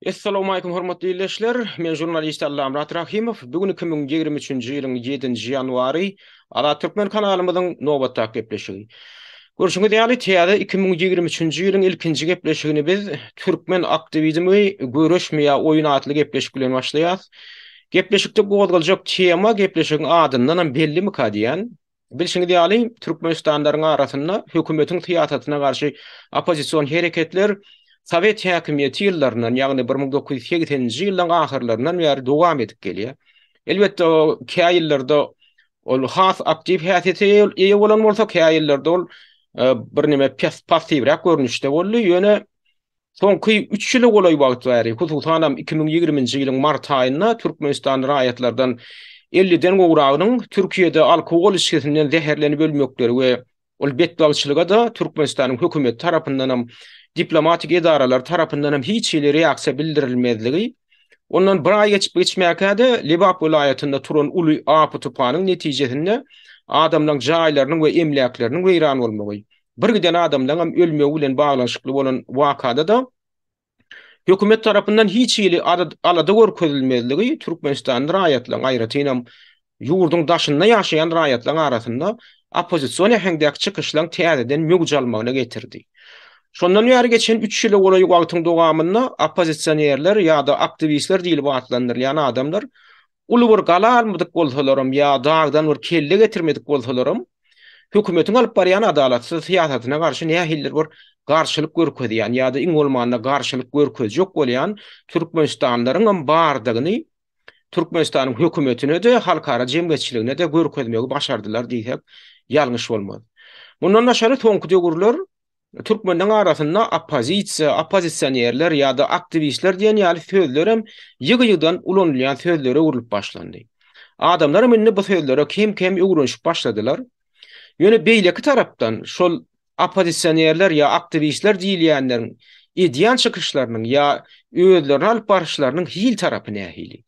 Essalawmaleýkum hormatly ildeşler! Men žurnalist Allamyrat Rahymow. Bu gün iki müň ýigrimi üçünji ýylyň ýedinji ýanwary. Azat Türkmen kanalymyzyň nobatdaky gepleşigi. Görşüňiz ýaly, täze iki müň ýigrimi üçünji ýylyň ilkinji gepleşigini biz Türkmen aktiwizmi, göreşmi ýa oýun atly gepleşik bilen başlaýas. Gepleşikde gozgaljak tema gepleşigiň adyndanam bellimikä diýän. Bilşiňiz ýaly, türkmenistanlylaryň arasynda hökümetiň syýasatyna garşy oppozision hereketler sowet häkimiýeti ýyllaryndan, ýagny bir müň dokuz ýüz segsen nji ýyllaryň ahyrlaryndan bäri dowam edip gelýär. Elbetde, kä ýyllarda ol has aktiw häsiýete eýe bolan bolsa, kä ýyllarda ol birneme passiwräk görnüşde boldy, ýöne Soňky üç ýyla golaý wagt bäri, hususan hem iki müň ýigriminji ýylyň mart aýynda türkmenistanly raýatlardan elliden gowragynyň Türkiýede alkogol içgisinden zäherlenip ölmekleri we ol betbagtçylyga-da Türkmenistanyň hökümeti tarapyndan hem, diplomatik edaralar tarapyndan hem hiç hili reaksiýa bildirilmezligi, ondan bir aý geçip-geçmäkä-de Lebap welaýatynda turan uly apy-tupanyň netijesinde adamlaryň jaýlarynyň we emläkleriniň weýran bolmagy, Bir giden adamlaňam ölmegi bilen baglanyşykly bolan wakada-da hökümet tarapyndan hiç hili alada görkezilmezligi türkmenistanly raýatlaryň, aýratynam ýurduň daşynda ýaşaýan raýatlaryň arasynda oppozision äheňdäki çykyşlaryň täzeden möwç almagyna getirdi. Şondan bäri geçen üç ýyla golaý wagtyň dowamynda oppozisionerler ýa-da aktiwistler diýlip atlandyrylýan adamlar uly bir gala almadyk bolsalaram ýa dagdan bir kelle getirmedik bolsalaram, hökümetiň alyp barýan adalatsyz syýasatyna garşy nähilidir bir garşylyk görkezýän ýa-da iň bolmanda garşylyk görkezjek bolýan türkmenistanlylaryňam bardygyny Türkmenistanyň hökümetine-de, halkara jemgyýetçiligine-de görkezmegi başardylar diýsek ýalňyş bolmaz. Mundan daşary soňky döwürler Türkmenleň arasynda oppozisiýa, oppozisionerler ýa-da aktiwistler diýen ýaly sözler hem ýygy-ýygydan ulanylýan sözlere öwrülip başlandy. Adamlar hem indi bu sözlere kem-kem öwrenişip başladylar. Ýöne beýleki tarapdan şol oppozisionerler ýa aktiwistler diýilýänleriň edýän çykyşlarynyň ýa özlerini alyp baryşlarynyň hil tarapy nähili?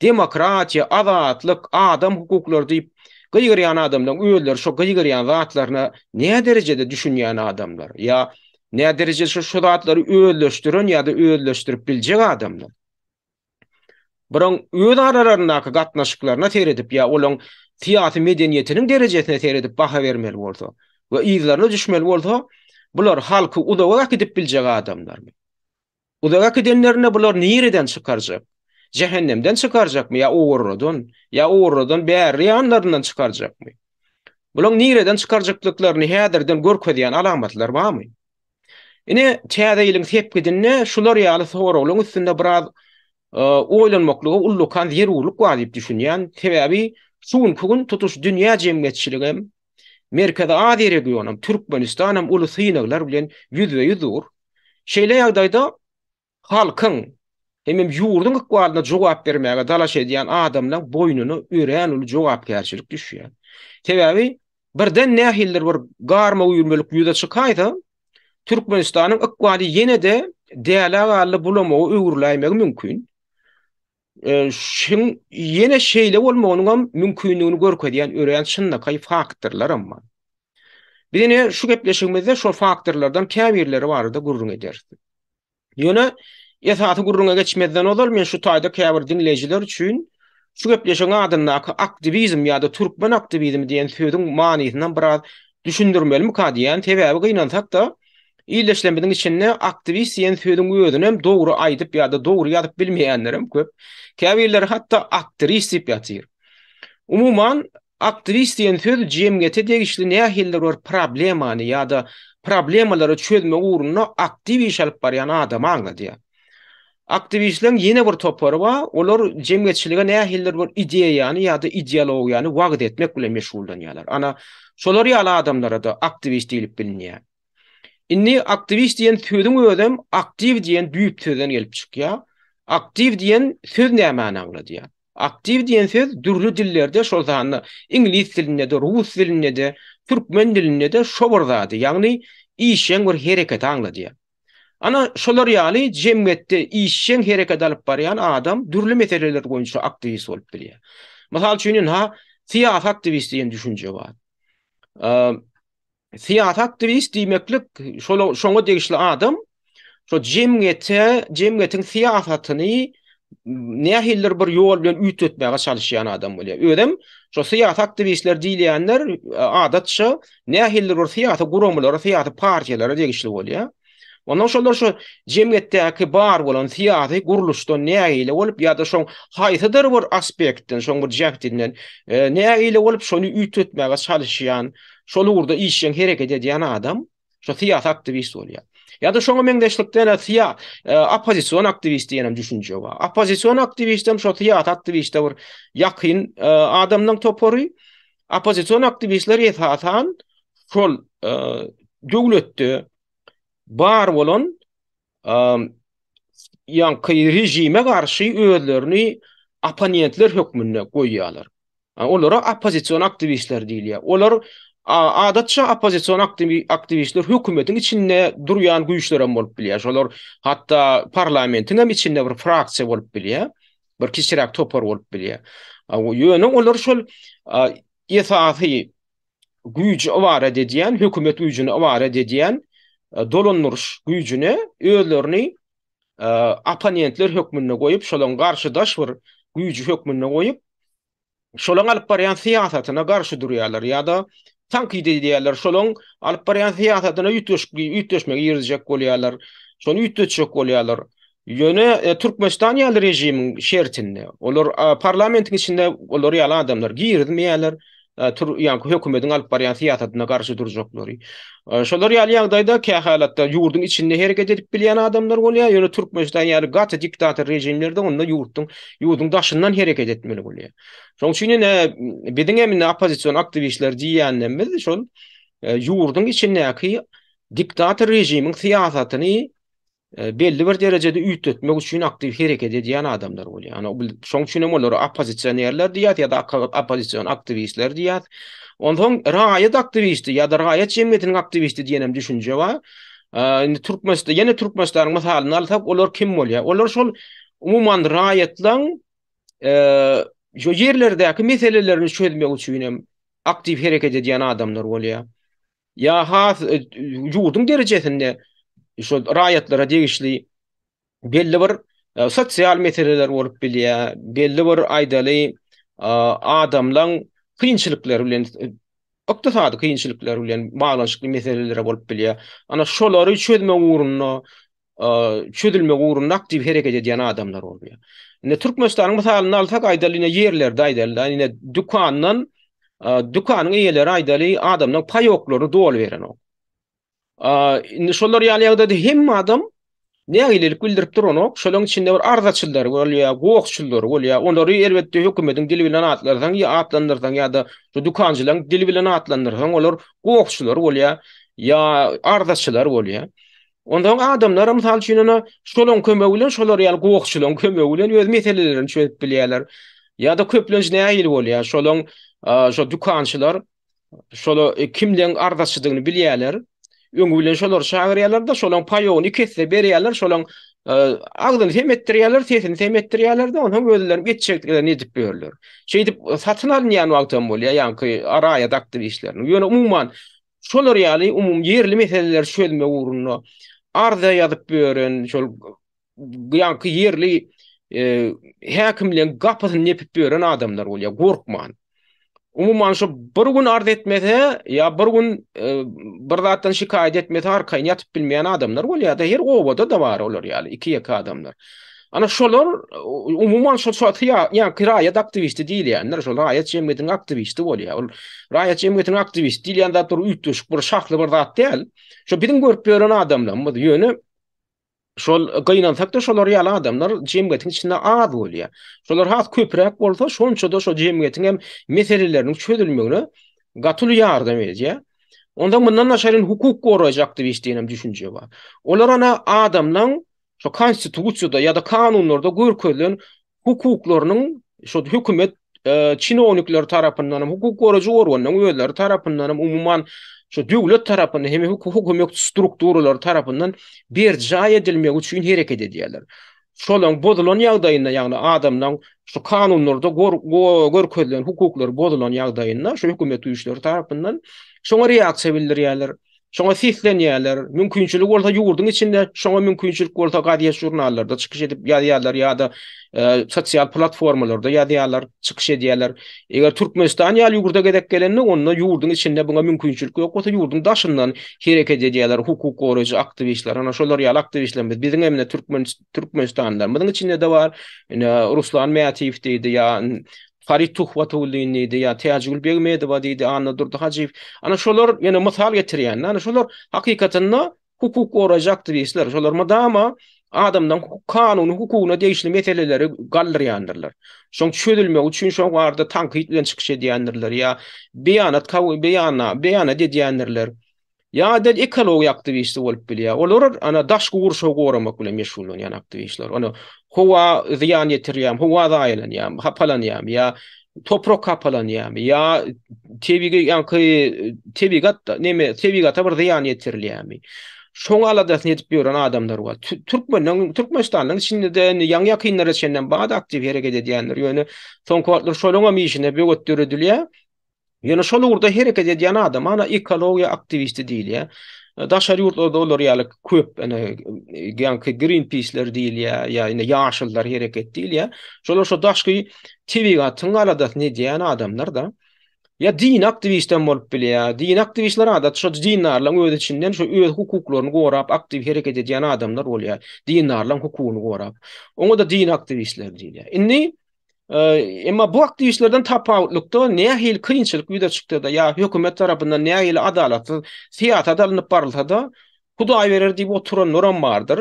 demokratiýa, azatlyk, adam hukuklary diýip gygyrýan adamlaryň özleri şo gygyrýan zatlaryna näderejede düşünýän adamlar ýa näderejede şo şo zatlary özleşdiren ýa-da özleşdirip biljek adamlar. Buraň öz aralaryndaky gatnaşyklaryna seredip ýa olaň syýasy medeniýetiniň derejesine seredip baha bermeli bolsa we yzlaryna düşmeli bolsa, bular halky uzaga äkidip biljek adamlarmy? Uzaga gidenlerinde bular nireden çykarjak? Jähennemden çykarjakmy ýa owurradan, ýa owurradan bärli ýanlaryndan çykarjakmy? Bulaň nireden çykarjakdyklaryny häzirden görkezýän alamatlary barmy? Ine, Täze ýylyň sepgidinde şular ýaly soraglaryň üstünde biraz oýlanmaklyga ullakan zerurlyk bar diýip düşünýän. Sebäbi şu günki gün tutuş dünýä jemgyýetçiligem, Merkezi Aziýa regionam, Türkmenistanam uly synaglar bilen ýüzbe-ýüz dur. Şeýle ýagdaýda halkyň hemem ýurduň ykbalyna jogap bermäge dalaş edýän adamlaň boýnuna örän uly jogapkärçilik düşýär. Sebäbi birden nähilidir bir garma-güýrmelik ýüze çykaýsa, Türkmenistanyň ykbaly ýene-de dälä-galla bulamaga öwrüläýmegi mümkin. Şuň ýene şeýle bolmagynyň hem mümkindigini görkezýän örän çynlakaý faktorlar hem bar. Biz ine şu gepleşigimizde şol faktorlardan käbirleri barada gürrüň ederis. Ýöne esasy gürrüňe geçmezden ozal men şu taýda käbir diňleýjiler üçin şu gepleşigiň adyndaky aktiwizm ýa-da türkmen aktiwizmi diýen sözüň manysyny biraz düşündirmelimikä diýýän. Sebäbi gynansak-da, Ildeşlerimiziň içinde aktiwist diýen sözüň özünem dogry aýdyp ýa-da dogry ýazyp bilmeýänlerem köp. Käbirleri hatda aktiris diýip ýatyr. Umuman, aktiwist diýen söz jemgyýete degişli nähilidir bir problemany ýa-da problemalary çözmek ugrunda aktiw iş alyp barýan adamy aňladýar. Aktiwistleriň ýene bir topary bar, olar jemgyýetçilige nähilidir bir ideýany ýa-da ideologiýany wagyz etmek bilen meşgullanýarlar. Ana, şolar ýaly adamlara-da aktiwist diýlip bilinýär. Indi aktiwist diýen sözüň özem aktiw diýen düýp sözden gelip çykýar. Aktiw diýen söz nämäni aňladýar? Aktiw diýen söz dürli dillerde, şol sanda iňlis dilinde-de, rus dilinde-de, türkmen dilinde-de şo bir zady, ýagny işjeň bir hereketi aňladýar. Ana, şolar ýaly jemgyýetde işjeň hereket alyp barýan adam dürli meseleler boýunça aktiwist bolup bilýär. Mysal üçin, ynha, syýasy aktiwist diýen düşünje bar. Syýasy aktiwist diýmeklik, şoňa degişli adam şo jemgyýete, jemgyýetiň syýasatyny nähildir bir ýol bilen üýtgetmäge çalyşýan adam bolýar. Özem şu syýasy aktiwistler diýilýänler adatça nähildir bir syýasy guramalara, syýasy partiýalara degişli bolýar. Ondan şolar şu jemgyýetdäki bar bolan syýasy gurluşdan nägile bolup ýa-da şoň haýsydyr bir aspektden, şoň bir jähtinden e, nägile bolup şony üýtgetmäge çalyşýan, şol ugurda işjeň hereket edýän adam Şo syýasy aktiwist bolýar. Ýa-da şoňa meňzeşlikde ýene syýa e, oppozision aktiwist diýen düşünje bar. Oppozision aktiwist hem şo syýasy aktiwistde bir ýakyn e, adamlaryň topary. Oppozision aktiwistler esasan şol e, döwletde bar bolan ýaňky režime garşy özlerini oponentler hökmünde goýýarlar. Olara oppozision aktiwistler diýilýär. Olar adatça oppozision aktiwistler hökümetiň içinde durýan güýçler hem bolup bilýär. Şolar hatda parlamentiň hem içinde bir fraksiýa bolup bilýär. Bir kiçiräk topar bolup bilýär. Ýöne olar şol esasy güýji ybarat edýän, hökümet güýjüni ybarat edýän dolandyryş güýjüne özlerini opponentler hökmünde goýup, şolaň garşydaş bir güýji hökmünde goýup, şolaň alyp barýan syýasatyna garşy durýarlar ýa-da tankyt edýärler, şolaň alyp barýan syýasatyna üýtgeşmegi girizjek bolýarlar, şony üýtgetjek bolýarlar. Ýöne Türkmenistan ýaly režimiň şertinde, olar parlamentiň içinde olar ýaly adamlar girizmeýärler, ýa-da hökümetiň alyp barýan syýasatyna garşy durjaklary. Şolar ýaly ýagdaýda kähalatda ýurduň içinde hereket edip bilýän adamlar bolýar, ýöne Türkmenistan ýaly gaty diktator režimlerde onda ýurtduň, ýurduň daşyndan hereket etmeli bolýar. Şonuň üçin indi biziň hem indi oppozision aktiwistler diýýänlerimiz şol ýurduň içindäki diktator režimiň syýasatyny E, belli bir derejede üýtgetmek üçin aktiw hereket edýän adamlar bolýar. Ýani şoň üçin hem olara oppozisionerler diýýär ýa-da oppozision aktiwistler diýýär. Ondan raýat aktiwisti ýa-da raýat jemgyýetiniň aktiwisti diýen hem düşünje bar. E, indi Türkmenistan, ýene Türkmenistanyň mysalyny alsak, olar kim bolýar? Olar şol umuman raýatlaryň e, şu ýerlerdäki meselelerini çözmek üçin hem aktiw hereket edýän adamlar bolýar. ýa has ýurduň derejesinde şo raýatlara degişli belli bir sosial meseleler bolup bilýär, belli bir aýdaly adamlaň kynçylyklary bilen ykdysady kynçylyklary bilen baglanyşykly meseleler bolup bilýär. Ana şolary çözmek ugrunda çözülmegi ugrunda aktiw hereket edýän adamlar bolýar. Indi Türkmenistanyň mysalyny alsak, aýdaly ine ýerlerde aýdaly ine dükandan dükanyň eýeleri aýdaly adamdan paýoklaryny doly berenok. Indi şolar ýaly ýagdaýda hemme adam nägilelik bildirip duranok. Şolaryň içinde bir arzaçyllar bolýar, gohçullar bolýar. Olary elbetde hökümetiň dili bilen atlarsaň ýa atlandyrsaň ýa-da şu dükançylaryň dili bilen atlandyrsaň olar gohçular bolýar ýa arzaçylar bolýar. Onsoň adamlar mysal üçin ýa şolaryň kömegi bilen şolar ýaly gowakçylaryň kömegi bilen öz meselelerini çözüp bilýärler. Ýa-da köplenç nähili bolýar? Şolaryň şo dükançylar şola e, kimden arzaçydygyny bilýärler. Öňi bilen şolary çagyrýarlar-da, şolaryň paýogyny iki esse berýärler, şolaryň e, agzyny hem etdirýärler, sesini hem etdirýärler-de, onsoň özleri geçjeklerini edip berler. Şeýdip satyn alynýan wagtam bolýar, ýaňky araýa dakdyr işlerini. Ýöne umuman şolar ýaly umumy ýerli meseleleri çözmek ugrunda arza ýazyp beren şol ýaňky ýerli e, häkimligiň gapysyny nepip beren adamlar bolýar, gorkman. Umuman şu bir gün arz etmese ýa bir gün e, bir zatdan şikaýat etmese arkaýyn ýatyp bilmeýän adamlar bolýar-da, her obada da bar olar ýaly iki ýeke adamlar. Ana şolar umuman şol şol ýa kiraýat aktiwisti diýilýänler şol raýat jemgyýetiniň aktiwisti bolýar. Ol raýat jemgyýetiniň aktiwisti diýilýän zat bir üýtgeşik bir şahly bir zat däl. Şo biziň görüp ýören adamlarymyz ýöne şol gynansak-da şolar ýaly adamlar jemgyýetiň içinde az bolýar. Şolar has köpräk bolsa şonça-da şo jemgyýetiň hem meseleleriniň çözülmegine gatyly ýardam edýär. Onda mundan daşary hukuk goraýjy aktiwistiň hem düşünje bar. Olar ana adamlaryň şu konstitusiýada ýa-da kanunlarda görkezilen hukuklarynyň şu hökümet e, çinownikleri tarapyndan hem hukuk goraýjy organlaryň özleri tarapyndan hem umuman şu döwlet tarapyndan hem hukuk hökümet strukturalary tarapyndan berjaý edilmegi üçin hereket edýärler. Şolaryň bozulan ýagdaýynda, ýagny adamlaryň şu kanunlarda görkezilen hukuklary bozulan ýagdaýynda şu hökümet güýçleri tarapyndan şoňa reaksiýa bildirýärler. Şoňa seslenýärler. Mümkinçilik bolsa ýurduň içinde, şoňa mümkinçilik bolsa gazet-žurnallarda çykyş edip ýazýarlar ýa-da sosial platformalarda ýazýarlar, çykyş edýärler. Eger Türkmenistan ýaly ýurda gezek gelende, onda ýurduň içinde buňa mümkinçilik ýok bolsa, ýurduň daşyndan hereket edýärler, hukuk goraýjy aktiwistler. Ana, şolar ýaly aktiwistlerimiz biziň hem türkmen türkmenistanlarymyzyň içinde-de bar. Ine, Ruslan Mätiýew diýdi, ýa Farid Tuhbatullin diýdi, ýa Täjigül Begmedowa diýdi, Annadurdy Hajyýew. Ana şolar, men mysal getirýän-de, ana şolar hakykatynda hukuk goraýjy aktiwistler. Şolar mydama adamlaryň hukuk kanuny hukugyna degişli meseleleri galdyrýandyrlar. Şoň çözülmegi üçin şoň barada tankyt bilen çykyş edýändirler ýa beýanat beýana beýanat edýändirler. Ýa edil ekologiýa aktiwisti bolup bilýär. Olar ana daşky gurşawy goramak bilen meşgullanýan aktiwistler. Ony howa zyýan ýetirýär, howa zaýalanýar, hapalanýar ýa toprak hapalanýar ýa tebigy ýaňky tebigat näme tebigata bir zyýan ýetirilýärmi? Şoň aladasyny edip ýören adamlar bar. Türkmeniň Türkmenistanyň içinde de indi ýaňy ýakynlara çenlem bada aktiw hereket edýänler. Ýöne soňky wagtlar şolaryň hem işine böwet döredilýär. Ýöne şol ugurda hereket edýän adam ana ekologiýa aktiwisti diýilýär. Daşary ýurtlarda olar ýaly köp, ene ýaňky Greenpeace-ler diýilýär, ýa indi ýaşyllar hereket diýilýär. Şolar şu daşky tebigatyň aladasyny edýän adamlar da. Ýa din aktiwist hem bolup bilýär. Din aktiwistler adatça şu dindarlaryň öz içinden şu öz hukuklaryny gorap aktiw hereket edýän adamlar bolýar. Dindarlaryň hukugyny gorap. Oňa-da din aktiwistleri diýilýär. Indi Emma bu aktiwistlerden tapawutlykda nähili kynçylyk ýüze çyksa-da, ýa hökümet tarapyndan nähili adalatsyz syýasat alnyp barylsa-da, Hudaý berer diýip oturanlar hem bardyr.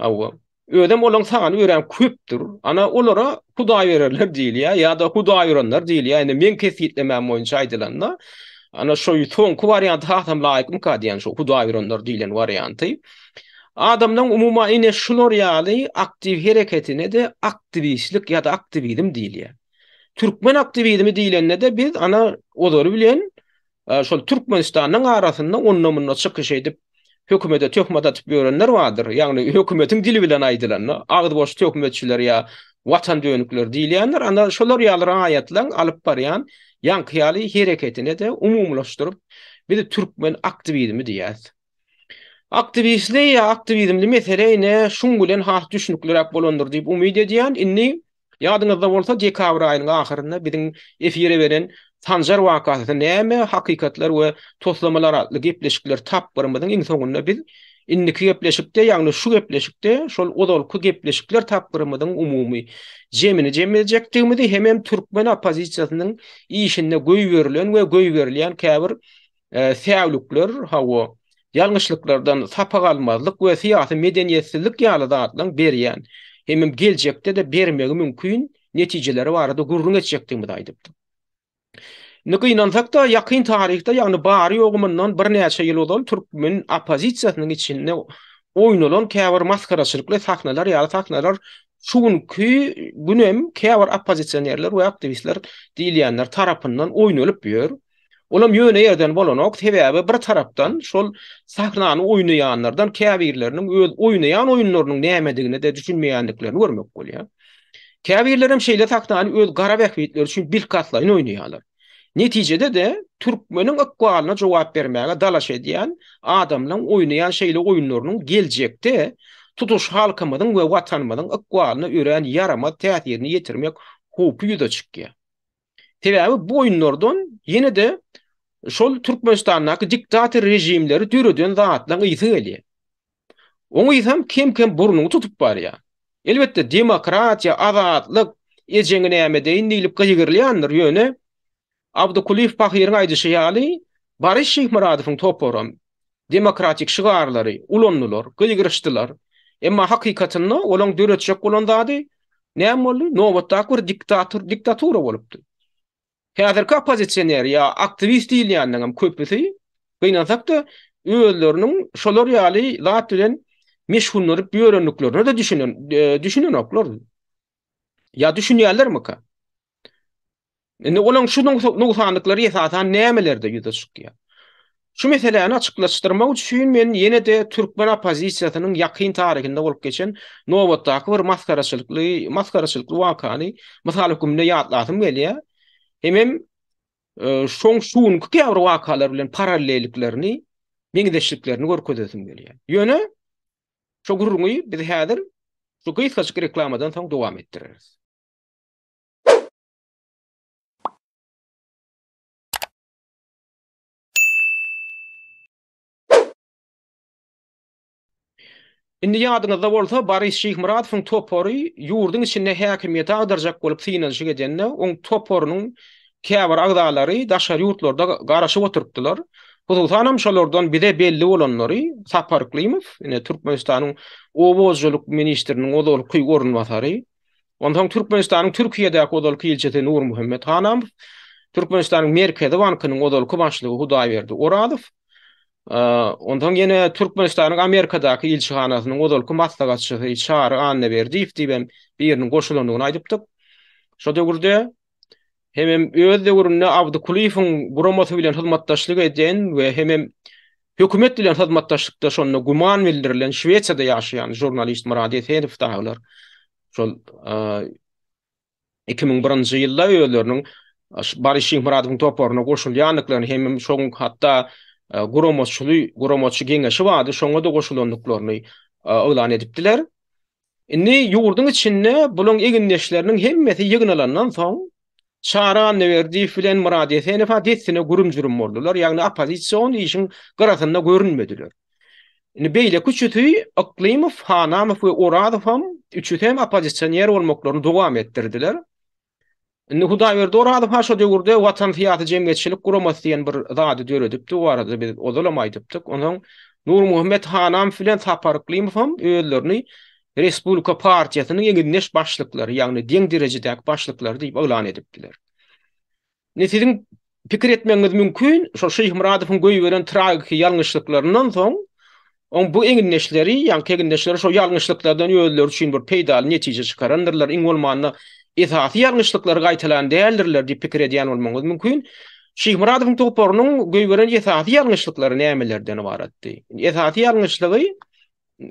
Hawa. Özem olaryň sany örän köpdür. Ana olara Hudaý bererler diýilýär ýa-da Hudaý uranlar diýilýär. Indi men kesgitlemän boýunça aýdylanda, ana şu soňky wariant hasam laýykmyka diýen şu Hudaý uranlar diýlen warianty. Adamlaryň umuman ine şular ýaly aktiw hereketine-de aktiwistlik ýa-da aktiwizm diýilýär. Türkmen aktiwizmi diýlende-de biz ana ozeri bilen şol Türkmenistanyň arasynda onda-munda çykyş edip, hökümete töhmet atyp ýörenler bardyr. Ýagny hökümetiň dili bilen aýdylanda, agzybos töhmetçiler ýa Watan dönükleri diýilýänler, ana şular ýaly raýatlaryň alyp barýan ýaňky ýaly hereketine-de umumylaşdyryp biz türkmen aktiwizmi diýýäris. Aktiwistli ýa aktiwizmli mesele ine şuň bilen has düşnükliräk bolandyr diýip umyt edýän. Indi ýadyňyzda bolsa dekabr aýynyň ahyrynda biziň efire beren Sanjar wakasy näme? Hakykatlar we toslamalar atly gepleşikler tapgyrymyzyň iň soňunda biz indiki gepleşikde ýagny şu gepleşikde şol ozalky gepleşikler tapgyrymyzyň umumy jemini jemlejekdigimizi hemem türkmen oppozisiýasynyň işinde goýberilen we goýberilýän käbir säwlikler, hawa, ýalňyşlyklardan sapak almazlyk we syýasy medeniýetsizlik ýaly zatlaryň berýän hemem geljekde-de bermegi mümkin netijeleri barada gürrüň etjekdigimizi aýdypdyk. Indi gynansak-da, ýakyn taryhda, ýagny bary-ýogy mundan birnäçe ýyl ozal türkmen oppozisiýasynyň içinde oýnalan käbir masgaraçylykly sahnalar ýaly sahnalar şu günki gün hem käbir oppozisionerler we aktiwistler diýilýänler tarapyndan oýnalyp ýör. Olam ýöne ýerden bolanok, sebäbi bir tarapdan şol sahnany oýnaýanlardan käbirleriniň öz oýnaýan oýunlarynyň nämedigine-de düşünmeýändiklerini görmek bolýar. Käbirler hem şeýle sahnany öz gara bähbitleri üçin bilkastlaýyn oýnaýarlar. Netijede-de, türkmeniň ykbalyna jogap bermäge dalaş edýän adamlaryň oýnaýan şeýle oýunlarynyň geljekde tutuş halkymyzyň we Watanymyzyň ykbalyna örän ýaramaz täsirini ýetirmek howpy ýüze çykýar. Sebäbi bu oýunlardan ýene-de şol Türkmenistandaky diktator režimleri döreden zatlaryň ysy gelýär. Oň ysy hem kem-kem burnuny tutup barýar. Elbetde, demokratiýa, azatlyk, ejeňi näme edeýin diýlip gygyrylýandyr, ýöne Abdukulyýew pahyryň aýdyşy ýaly, Borys Şyhmyradowyň toparam, demokratik şygarlary ulandylar, gygyryşdylar. Emma hakykatynda olaň döretjek bolan zady näme boldy? Nobatdaky bir diktator, diktatura bolupdy. Häzirki oppozisioner ýa aktiwist diýilýänleňem köpüsi gynansak-da özleriniň şolar ýaly zat bilen meşgullanyp ýörendiklerine-de düşünen, düşünenoklar. Ýa düşünýärlermika? Indi olaň şu nuksanlyklary esasan nämelerde ýüze çykýar? Şu meseläni açyklaşdyrmak üçin men ýene-de türkmen oppozisiýasynyň ýakyn taryhynda bolup geçen nobatdaky bir masgaraçylykly masgaraçylykly wakany mysal höküminde ýatlasym gelýär. Hemem e, şoň şu günki käbir wakalar bilen parallelliklerini, meňzeşliklerini görkezesim gelýär. Ýöne Şu gürrüňi biz häzir şu gysgajyk reklamadan soň dowam etdireris. Indi ýadyňyzda bolsa, Boris Şyhmyradowyň topary ýurduň içinde häkimiýeti agdarjak bolup synanyşyk edende, oň toparynyň käbir agzalary daşary ýurtlarda garaşyp oturypdylar. Hususanam şolardan bize belli bolanlary Sapar Yklymow, ine, Türkmenistanyň oba hojalyk ministriniň ozalky orunbasary, onsoň Türkmenistanyň Türkiýedäki ozalky ilçisi Nurmuhammet Hanamow, Türkmenistanyň Merkezi bankynyň ozalky başlygy Hudaýberdi Orazow, onsoň ýene Türkmenistanyň Amerikadaky ilçihanasynyň ozalky maslahatçysy Çary Annaberdiýew diýibem biriniň goşulandygyny aýdypdyk. Şo döwürde hemem öz döwründe Abdy Kulyýewiň guramasy bilen hyzmatdaşlyk eden we hemem hökümet bilen hyzmatdaşlykda şonda güman bildirilen Şwesiýada ýaşaýan žurnalist Myrat Esenow dagylar şol iki müň birinji ýylda özleriniň Barys Şyhmyradowyň toparyna goşulýandyklaryny hemem şoň hatda guramaçyly guramaçy geňeşi bardy, şoňa-da goşulandyklaryny yglan edipdiler. Indi ýurduň içinde bulaň egindeşleriniň hemmesi ýygnalandan soň, Çary Annaberdiýew bilen Myrat Esenow-a dessine gürüm-jürüm boldular, ýagny oppozisiýa ol işiň gyrasynda görünmediler. Indi beýleki üçüsi, Yklymow, Hanamow we Orazow hem, üçüsi hem oppozisioner bolmaklaryny dowam etdirdiler. Indi Hudaýberdi Orazowa şo döwürde Watan syýasy jemgyýetçilik guramasy diýen bir zady döredipdi, bu barada biz ozalam aýdypdyk. Onsoň Nurmuhammet Hanam bilen Sapar Yklymow hem özlerini Respublika partiýasynyň ýeňildeş başlyklary, ýagny deň derejedäki başlyklary diýip yglan edipdiler. Indi siziň pikir etmegiňiz mümkin, şol Şyhmyradowyň goýberen tragiki ýalňyşlyklaryndan soň, oň bu egindeşleri, ýaňky egindeşleri şol ýalňyşlyklardan özleri üçin bir peýdaly netije çykarandyrlar, iň bolmanda esasy ýalňyşlyklary gaýtalan däldirler diýip pikir edýän bolmagyňyz mümkin. Şyhmyradowyň toparynyň goýberen esasy ýalňyşlyklary nämelerden ybaratdy? Esasy ýalňyşlygy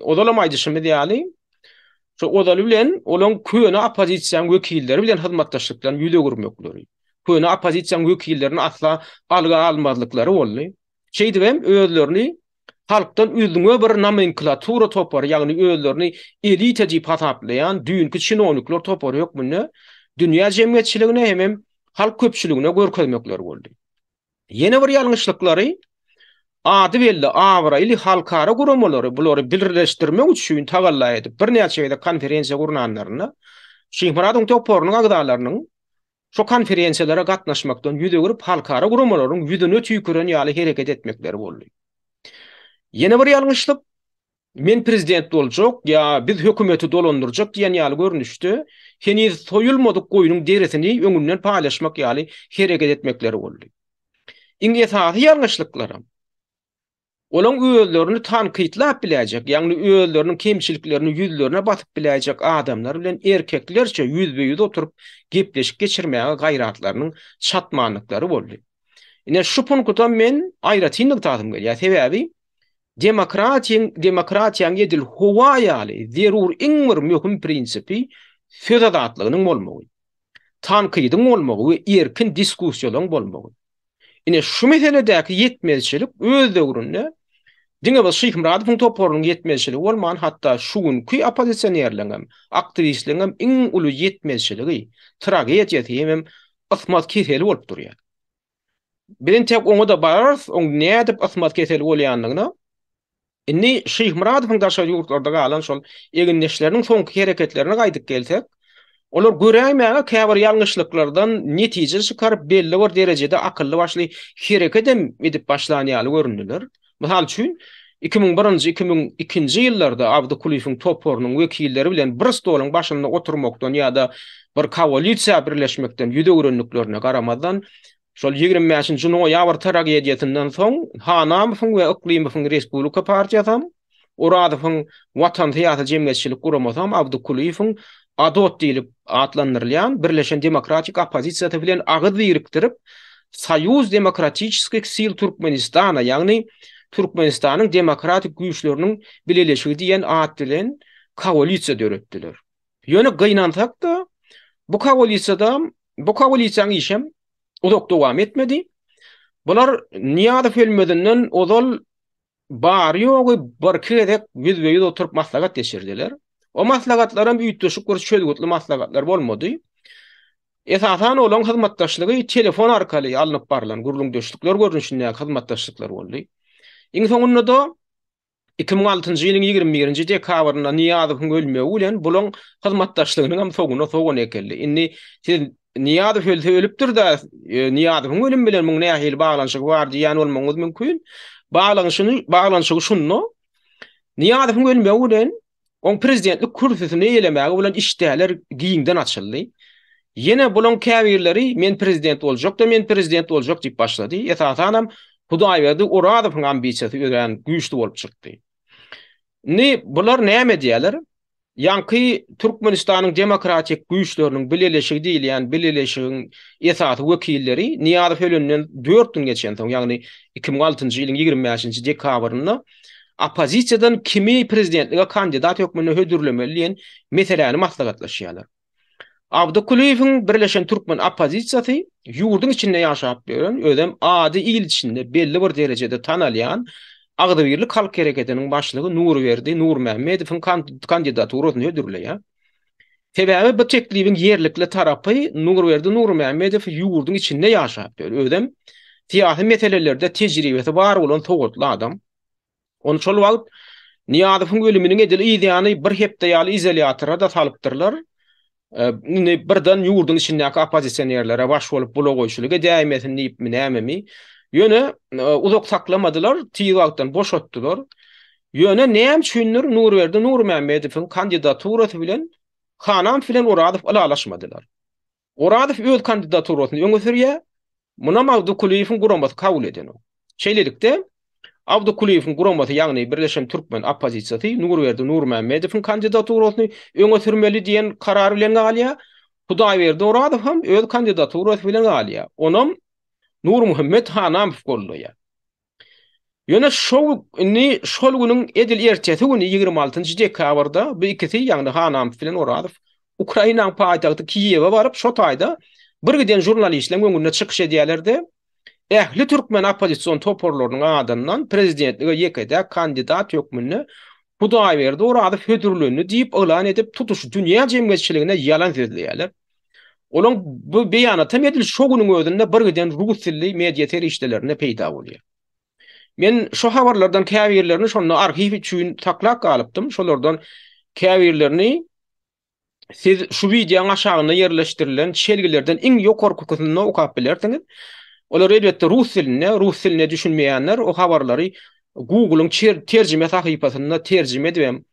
Ozalam aýdyşymyz ýaly, şu ozaly bilen olaň köne oppozisiýaň wekilleri bilen hyzmatdaşlyk bilen ýüz öwürmekleri, köne oppozisiýaň wekillerini asla alga almazlyklary boldy. Şeýdibem özlerini halkdan üzňe bir nomenklatura topary, ýagny özlerini elita diýip hasaplaýan düýnki çinonikler topary hökmünde dünýä jemgyýetçiligine hemem halk köpçüligine görkezmekleri boldy. Ýene bir ýalňyşlyklary, ady belli, abraýly halkara guramalary bulary birleşdirmek üçin tagalla edip, birnäçe gezek konferensiýa gurnanlarynda, Şyhmyradyň toparynyň agzalarynyň şu konferensiýalara gatnaşmakdan ýüz öwürip, halkara guramalaryň ýüzüne tüýküren ýaly hereket etmekleri boldy. Ýene bir ýalňyşlyk, Men prezident boljak ýa biz hökümeti dolandyrjak diýen ýaly görnüşde heniz soýulmadyk goýnuň derisini öňünden paýlaşmak ýaly hereket etmekleri boldy. Iň esasy ýalňyşlyklaram olaň özlerini tankytlap biläýjek, ýagny özleriniň kemçiliklerini ýüzlerine basyp biläýjek adamlar bilen erkeklerçe ýüzbe-ýüz oturyp gepleşik geçirmäge gaýratlarynyň çatmandyklary boldy. Ine şu punktam men aýratyn nygtasym gelýär, sebäbi, Demokratiýaň, demokratiýaň edil howa ýaly zerur iň bir möhüm prinsipi söz azatlygynyň bolmagy, tankydyň bolmagy we erkin diskussiýalaryň bolmagy. Ine, şu meseledäki ýetmezçilik öz döwründe diňe bir Şyhmyradowyň toparynyň ýetmezçiligi bolman, hatda şu günki oppozisionerligiň hem, aktiwistligiň hem iň uly ýetmezçiligi, tragediýasy hem ysmaz keseli bolup durýar. Biz entek oňa-da bararys, oň nädip ysmaz keseli bolýandygyna. Indi Şyhmyradowyň daşary ýurtlarda galan şol egindeşleriniň soňky hereketlerine gaýdyp gelsek, olar göräýmäge käbir ýalňyşlyklardan netije çykaryp, belli bir derejede akylly-başly herekedem edip başlan ýaly göründiler. Mysal üçin, iki müň birinji, iki müň ikinji ýyllarda Abdukuliýewiň toparynyň wekilleri bilen bir stoluň başynda oturmakdan ýa-da bir kowalisiýa birleşmekden ýüz öwrendiklerine garamazdan, şol ýigrimi bäşinji noýabr taragediýasyndan soň Hanamowyň we Yklymowyň Respublika partiýasam, Orazowyň Watan syýasy jemgyýetçilik guramasy hem Abdukulyýewiň Azot diýlip atlandyrylýan Birleşen demokratik oppozisiýasy bilen agyz birikdirip, Soýuz demokratiçeskih sil Türkmenistana, ýagny Türkmenistanyň demokratik güýçleriniň bileleşigi diýen at bilen koalisiýa döretdiler. Ýöne gynansak-da, bu koalisiýada bu koalisiýaň işem uzak dowam etmedi. Bular Nyýazow ölmezinden ozal Bary-ýogy birki gezek ýüzbe-ýüz oturyp maslahat geçirdiler. O maslahatlaram üýtgeşik bir çözgütli maslahatlar bolmady. Esasan olaryň hyzmatdaşlygy telefon arkaly alnyp barlan gürrüňdeşlikler görnüşindäki hyzmatdaşlyklar boldy. Iň soňunda-da iki müň altynjy ýylyň ýigrimi birinji dekabrynda Nyýazowyň ölmegi bilen bularyň hyzmatdaşlygynyňam soňuna sogan ekildi. Indi siz Niýazow ölse ölüpdir-dä, Niýazowyň ölümi bilen muň nähili baglanyşygy bar diýýän bolmagyňyz mümkin. Baglanyşyny, baglanyşygy şunda, Niýazowyň ölmegi bilen oň prezidentlik kürsüsini eýelemegi bilen işdäler giňden açyldy. Ýene bulaň käbirleri men prezident boljak-da, men prezident boljak diýip başlady. Esasanam Hudaýberdi Orazowyň ambisiýasy örän güýçli bolup çykdy. Indi bular näme edýärler? Ýaňky Türkmenistanyň demokratik güýçleriniň bileleşigi diýilýän bileleşigiň esasy wekilleri Nyýazow ölenden dört gün geçensoň, ýagny iki müň altynjy ýylyň ýigrimi bäşinji dekabrynda oppozisiýadan kimi prezidentlige kandidat hökmünde hödürlemeli diýen meseläni maslahatlaşýarlar. Abdy Kulyýewiň Birleşen türkmen oppozisiýasy ýurduň içinde ýaşap ýören, özem ady il içinde belli bir derejede tanalýan Agzybirlik halk hereketiniň başlygy Nurberdi Nurmämmedowyň kandidaturasyny hödürleýär. Sebäbi bu teklibiň ýerlikli tarapy Nurberdi Nurmämmedow ýurduň içinde ýaşap ýör, özem syýasy meselelerde tejribesi bar bolan sowatly adam. Ony şol wagt Nyýazowyň ölüminiň edil yz ýany bir hepde ýaly izolýatora-da salypdyrlar. Indi birden ýurduň içindäki oppozisionerlere baş bolup bula goýşulyk edäýmesin diýipmi, nämemi. Ýöne uzak saklamadylar, tiz wagtdan boşatdylar. Ýöne näme üçindir Nurberdi Nurmämmedowyň kandidaturasy bilen Hanam bilen Orazow ylalaşmadylar. Orazow öz kandidaturasyny öňe sürýär, munam Awdukulyýewiň guramasy kabul edenok. Şeýlelikde, Awdukulyýewiň guramasy, ýagny Birleşen türkmen oppozisiýasy Nurberdi Nurmämmedowyň kandidaturasyny öňe sürmeli diýen karar bilen galýar, Hudaýberdi Orazow hem öz kandidaturasy bilen galýar, onam Nurmuhammet Hanamow gollaýar. Ýöne şou indi şol günüň edil ertesi güni ýigrimi altynjy dekabrda bu ikisi, ýagny Hanamov bilen Orazow Ukrainanyň paýtagty Kiýewe baryp, şo taýda bir giden žurnalistleriň öňünde çykyş edýärler-de, ähli türkmen oppozision toparlarynyň adyndan prezidentlige ýeke-täk kandidat hökmünde Hudaýberdi Orazow hödürlendi diýip yglan edip, tutuş dünýä jemgyýetçiligine ýalan sözleýärler. Olaň bu beýanaty hem edil şo günüň özünde birgiden rus dilli media serişdelerinde peýda bolýar. Men şo habarlardan käbirlerini şonda arhiw üçin saklap galypdym, şolardan käbirlerini siz şu wideoň aşagynda ýerleşdirilen çelgilerden iň ýokarkykysynda okap bilersiňiz. Olar elbetde rus dilinde, rus diline düşünmeýänler o habarlary Google-yň terjime sahypasynda terjime edip hem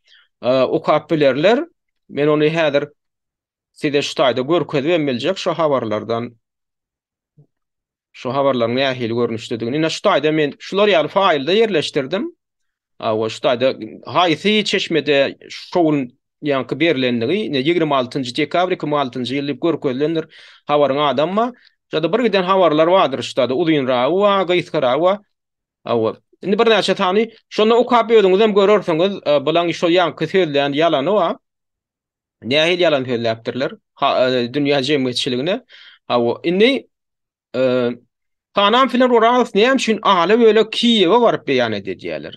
e, okap bilerler. Men ony häzir Size şu taýda görkezibem biljek şu habarlardan şu habarlaryň nähili görnüşdedigini. Ine şu taýda men şular ýaly faýlda ýerleşdirdim. Awa şu taýda haýsy çeşmede şowun ýaňky berlenligi ine 26-njy dekabr 2006-njy ýyl diýip görkezilendir. Habaryň adamma şada bir giden habarlar bardyr şu taýda uzynragy we gysgaragy we awa indi birnäçe sany şonda okap özüňizem görersiňiz e, bulaň şol ýaňky sözlän ýalany we Nähili ýalan sözläpdirler? Ha, e, dünýä jemgyýetçiligine. Ha, o, indi e, Hanam filan Orazow näme üçin ala bölek Kiýewe baryp beýan edýärler?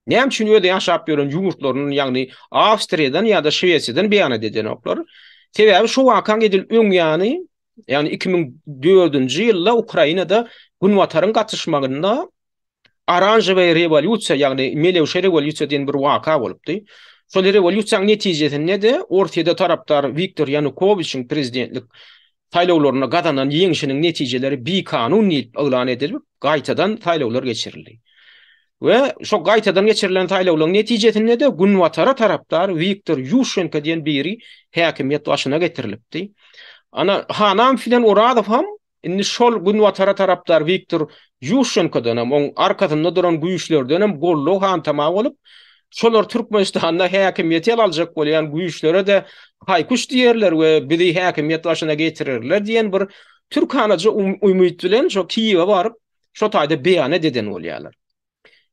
Näme üçin öde ýaşap ýören ýurtlarynyň, ýagny Awstriýadan ýa-da Şwesiýadan beýan edýänoklar? Sebäbi şu wakaň edil öň ýany, ýagny 2004-nji ýylda Ukrainada Günbataryň gatyşmagynda Oranžowy rewolýusiýa, ýagny Melewşe rewolýusiýa diýen bir waka bolupdy. Şol rewolýusiýanyň netijesinde-de Orsýede tarapdar Wiktor Ýanukowiçiň prezidentlik saýlawlarynda gazanan ýeňşiniň netijeleri bikanun diýlip yglan edilip, gaýtadan saýlawlar geçirildi. We şo gaýtadan geçirilen saýlawlaryň netijesinde-de Günbatara tarapdar Wiktor Ýuşenko diýen biri häkimiýet başyna getirilipdi. Ana, Hanam filan Orazow ham Indi şol günbatara tarapdar Wiktor Ýuşenkodan hem, oň arkasynda duran güýçlerden hem goldaw hantama bolup, şolar Türkmenistanda häkimiýeti ele aljak bolýan güýçlere-de haý-küş diýerler we bizi häkimiýet başyna getirerler diýen bir türkanaja umyt bilen şo Kiýewe baryp, şo taýda beýanat eden bolýarlar.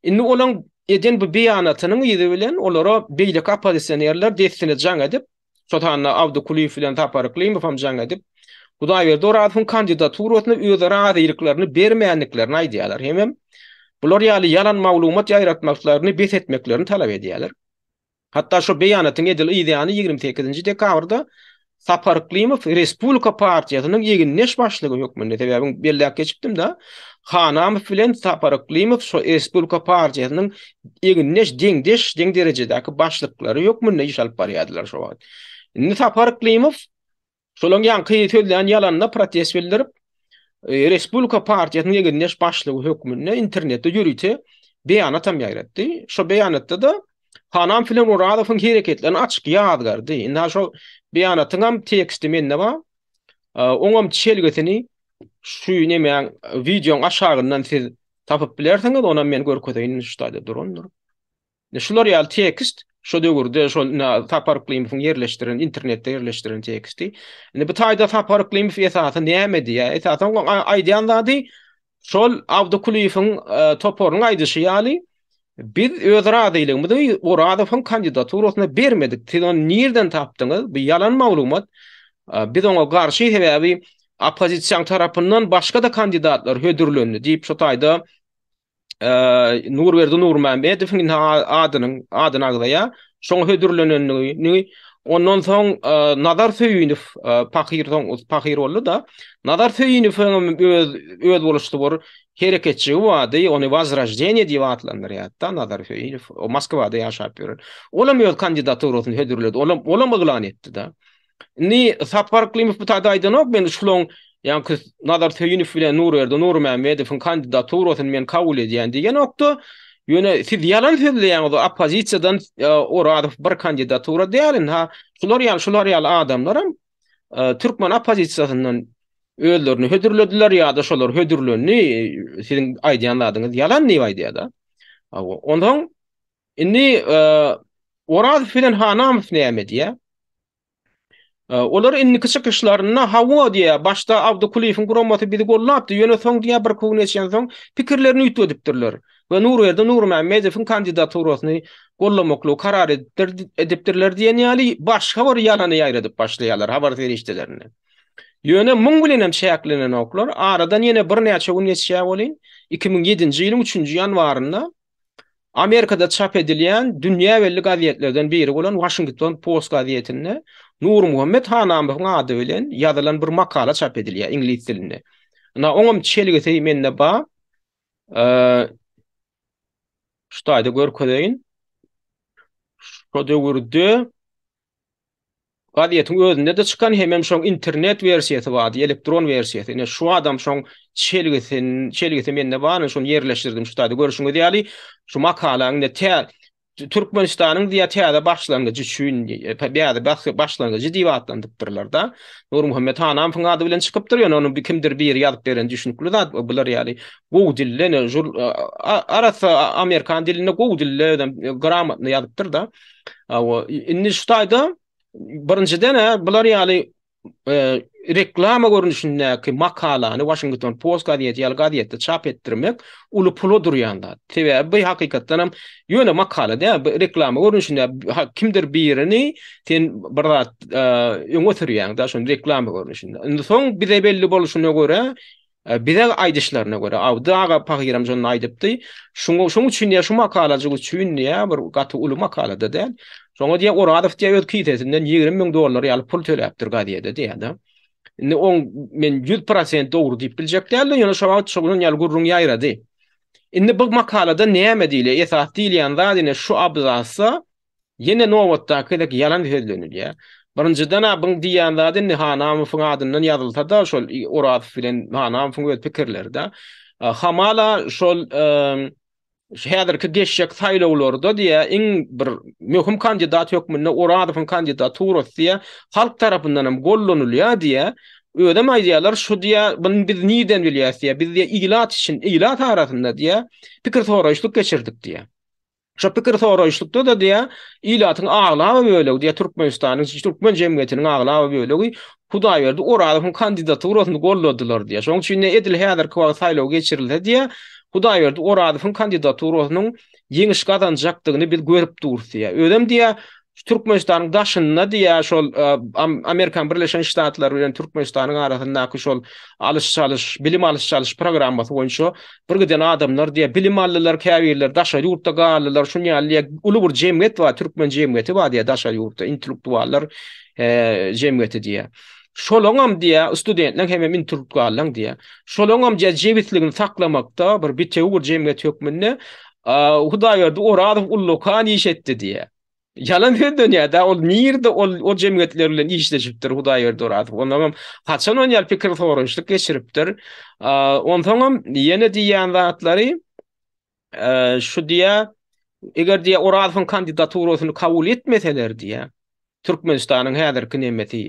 Indi olaň eden bu beýanatynyň yzy bilen olara beýleki oppozisionerler dessine jaň edip, şol sanda Awdykulyýew bilen Sapar Yklymowam jaň edip, Hudaýberdi Orazowyň kandidaturasyna öz razylyklaryny bermändiklerini aýdýarlar hemem bular ýaly ýalan maglumat ýaýratmaklaryny bes etmeklerini talap edýärler. Hatda şo beýanatyň edil yzýany ýigrimi sekizinji dekabrda Sapar Yklymow Respublika partiýasynyň egindeş başlygy hökmünde, sebäbi belläp geçipdim-de, Hanamow bilen Sapar Yklymow şo Respublika partiýasynyň egindeş, deňdeş, deň derejedäki başlyklary hökmünde iş alyp barýardylar şo wagt. Indi Sapar Yklymow Şolaň ýaňky sözlän ýalanyna protest bildirip, Respublika partiýasynyň egindeş başlygy hökmünde internetde ýörite beýanatam ýaýratdy. Şo beýanatda-da Hanam Filemuradowyň hereketlerini açyk ýazgardy. Indi şo beýanatyňam teksti mende bar. Oňam çelgisini şu nemäň wideoň aşagyndan siz tapyp bilersiňiz, onam men görkezeýin şu taýda durandyr. Ine şular ýaly tekst şo döwürde şol ine Sapar Yklymowyň ýerleşdiren internetde ýerleşdiren teksti. Ine bu taýda Sapar Yklymow esasy näme diýýär? Esasan aýdýan zady şol Abdy Kuliýewiň e, toparynyň aýdyşy ýaly biz öz razylygymyzy Orazowyň kandidaturasyna bermedik. Siz ony nirden tapdyňyz? Bu ýalan maglumat. E, biz oňa garşy sebäbi oppozisiýaň tarapyndan başga-da kandidatlar hödürlendi diýip şo taýda Nurberdi Nurmämmedowyň indi adynyň adyny agzaýar. Şoňa hödürlenendigini ondan soň Nazar Söýünow pahyr soň pahyr boldy-da, Nazar Söýünowyň hem öz öz boluşly bir hereketçigi bardy, ony Wazraždeniýe diýip atlandyrýardy-da Nazar Söýünow, o Moskwada ýaşap ýören. Ol hem öz kandidaturasyny hödürledi, ol hem ol hem yglan etdi-de. Indi Sapar Klymow bu taýda aýdanok, men şulaň ýaňky Nazar Söýünow bilen Nurberdi Nurmämmedowyň kandidaturasyny men kabul edýän diýenokdy. Ýöne siz ýalan sözleýäňiz, oppozisiýadan Orazow bir kandidatura däl, ynha, şular ýaly, şular ýaly adamlaram türkmen oppozisiýasyndan özlerini hödürlediler ýa-da şolar hödürlendi, siziň aýdýan zadyňyz ýalan diýip aýdýar-da. Onsoň Indi Orazow bilen Hanamow näme diýýär? Olar indiki çykyşlarynda hawa diýýär, başda Abdukuliýewiň guramasy bizi goldapdy, ýöne soň diýýär bir gün geçen soň pikirlerini üýtgedipdirler we Nurberdi Nurmämmedowyň kandidaturasyny gollamaklygy karar edipdirler diýen ýaly başga bir ýalany ýaýradyp başlaýarlar habar serişdelerinde. Ýöne muň bilen hem çäklenenoklar, aradan ýene birnäçe gün geçýär welin, iki müň ýedinji ýylyň üçünji ýanwarynda Amerikada çap edilýän dünýä belli gazetlerden biri bolan Washington Post gazetinde Nurmuhammet Hanamowyň ady bilen ýazylan bir makala çap edilýär iňlis dilinde. Ynha, oňam çelgisi mende bar. Şu taýda görkezeýin. Şu döwürde Gazetiň özünde-de çykan hemem şoň internet wersiýasy bardy, elektron wersiýasy. Ine şu adam şoň çelgisin, çelgisi mende bar, şony ýerleşdirdim şu taýda. Görşüňiz ýaly, şu makalaň indi tä Türkmenistanyň diýä täze başlangyjy üçin, bäde başlangyjy diýip atlandypdyrlar-da. Nurmuhammet Hanamyň ady bilen çykypdyr, ýöne ony kimdir biri ýazyp beren düşnükli zat, bular ýaly gowy dilli, ine, arassa amerikan dilinde gowy dilli, özem gramatny ýazypdyr-da. Awa, indi şu taýda birinjiden hä bular ýaly e, reklama görnüşindäki makalany Washington Post gazeti ýaly gazetde çap etdirmek uly pula durýan zat. Sebäbi bu hakykatdan hem ýöne makala däl, bu reklama görnüşinde kimdir birini sen bir zat e, öňe sürýäň da şonu reklama görnüşinde. Indi soň bize belli bolşuna görä Bize aýdyşlaryna görä, Abdy aga pahyram şonda aýdypdy, şuňa, şuň üçin diýä, şu makalajyk üçin diýä, bir gaty uly makalada däl. Şoňa diýä, Orazow diýä, öz kisesinden ýigrimi müň dollar ýaly pul töläpdir gazýede diýä-de. Indi oň men ýüz prosent dogry diýip biljek däldim, ýöne şo wagt şunuň ýaly gürrüň ýaýrady. Indi bu makalada näme diýilýär? Esas diýilýän zat ine şu abzassa Ýene nobatdaky gezek ýalan sözlenilýär. Birinjiden-ä buň diýýän zady indi Hanamowyň adyndan ýazylsa-da şol Orazow bilen Hanamowyň öz pikirleri-dä. Hamala şol häzirki geçjek saýlawlarda diýýä iň bir möhüm kandidat hökmünde Orazowyň kandidaturasy diýýä halk tarapyndan hem gollanylýar diýýä. Özem aýdýarlar şu diýýä buny biz nirden bilýäs diýýä biz diýýä ilat üçin ilat arasynda diýýä pikir soraýyşlyk geçirdik diýýä. Şo pikir soraýyşlykda-da diýýär, ilatyň aglaba bölegi diýýär, Türkmenistanyň, türkmen jemgyýetiniň aglaba bölegi Hudaýberdi Orazowyň kandidaturasyny goldadylar diýýär. Şonuň üçin-de edil häzirki wagt saýlaw geçirilse diýýär, Hudaýberdi Orazowyň kandidaturasynyň ýeňiş gazanjakdygyny biz görüp durus diýýär. Özem diýýär, Şu Türkmenistanyň daşynda diýýär, şol Amerikanyň Birleşen Ştatlary bilen Türkmenistanyň arasyndaky şol alyş-çalyş, bilim alyş-çalyş programmasy boýunça bir giden adamlar diýýär, bilim aldylar, käbirleri daşary ýurtda galdylar, şunuň ýaly diýýär, uly bir jemgyýet bar, türkmen jemgyýeti bar diýýär daşary ýurtda, intellektuallar jemgyýeti diýýär. Şolaňam diýýär, studentler hemem intellektuallaň diýýär. Şolaňam diýýär, jebisligini saklamakda bir bitewi bir jemgyýet hökmünde Hudaýberdi Orazow ullakan iş etdi diýýär. Yalan söz dönýär da ol nirde ol o jemgyýetler bilen işleşipdir Hudaýberdi Orazow. Ondan hem haçan on ýal pikir soraşlyk geçiripdir. Ondan hem ýene diýýän zatlary şu diýýär eger diýýär Orazowyň kandidaturasyny kabul etmeseler diýýär. Türkmenistanyň häzirki nemesi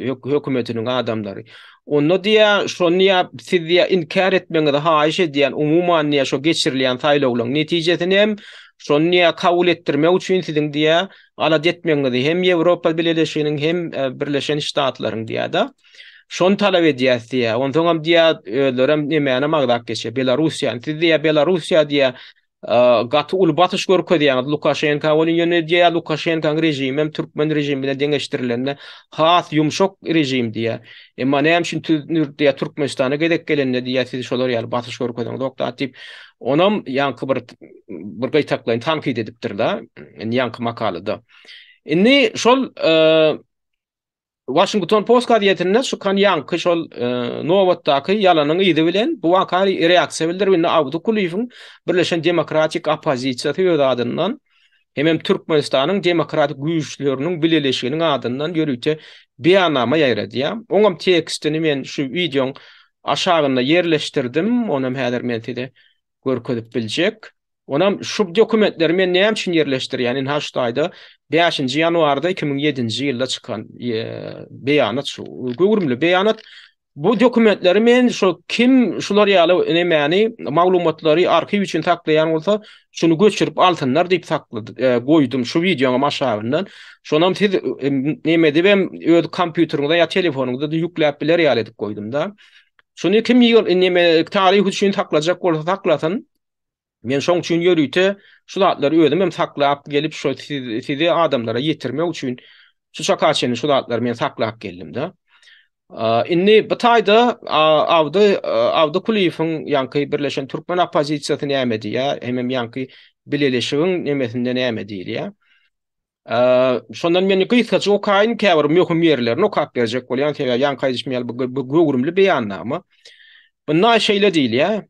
hökümetiniň adamlary. Onda diýýär, şony diýýär, siz diýýär inkär etmeňizi haýyş edýän, umuman diýýär, şu geçirilýän saýlawlaryň netijesini hem Şony diýýär, kabul etdirmek üçin siziň diýýär, alada etmegiňizi hem Ýewropa Bileleşiginiň, hem Birleşen Ştatlaryň diýýär-de. Şony talap edýäs diýýär. Onsoňam diýýär, özlerem nemänem agzap geçýär, Belarussiýany. Siz diýýär, Belarussiýa diýýär, gaty uly basyş görkezýäňiz Lukaşenka welin, ýöne diýýär, Lukaşenkaň režimi hem türkmen režimi bilen deňeşdirilende has ýumşak režim diýýär. Emma näme üçin diýýär, Türkmenistana gezek gelende diýýär, siz şolar ýaly basyş görkeziňizok-da diýip, onam ýaňky bir bir gaýtaklaýyn tankyt edipdir-de, indi ýaňky makalada. Indi şol Washington Post gazetinde çykan ýaňky şol e, nobatdaky ýalanyň yzy bilen bu waka reaksiýa bildirip, indi Abdukuliýewiň Birleşen Demokratik Oppozisiýasy öz adyndan hem hem Türkmenistanyň demokratik güýçleriniň bileleşiginiň adyndan ýörite beýannama ýaýradýar. Oňam tekstini men şu wideoň aşagynda ýerleşdirdim. Onam häzir men size görkezip biljek. Onam şu dokumentleri men näme üçin ýerleşdirýän? Indi ha şu taýda 5-nji ýanwarda 2007-nji ýylda çykan beýanat şu göwrümli beýanat. Bu dokumentleri men şu kim şular ýaly nämäni maglumatlary arhiw üçin saklaýan bolsa, şuny göçürip alsynlar diýip sakladym, e, goýdum şu wideonyň aşagyndan. Şonam siz e, näme edip hem öz kompýuteriňize ýa telefonyňyza ýükläp biler ýaly edip goýdum-da. Şuny kim ýyl ineme taryh üçin saklajak bolsa saklasyn. Men şoň üçin ýörite şu zatlary özüm hem saklap gelip şu size adamlara ýetirmek üçin şu çaka çenli şu zatlary men saklap geldim-de. Indi bu taýda Awdy Awdy Kuliýewiň ýanky birleşen türkmen oppozisiýasy näme diýýär? Hemem ýanky bileleşigiň nemesinde näme diýilýär? Şondan men gysgaça okaýyn, käbir möhüm ýerlerini okap berjek bolýan, sebäbi ýaňky aýdyşym ýaly bu göwrümli beýannama. Bunda şeýle diýilýär.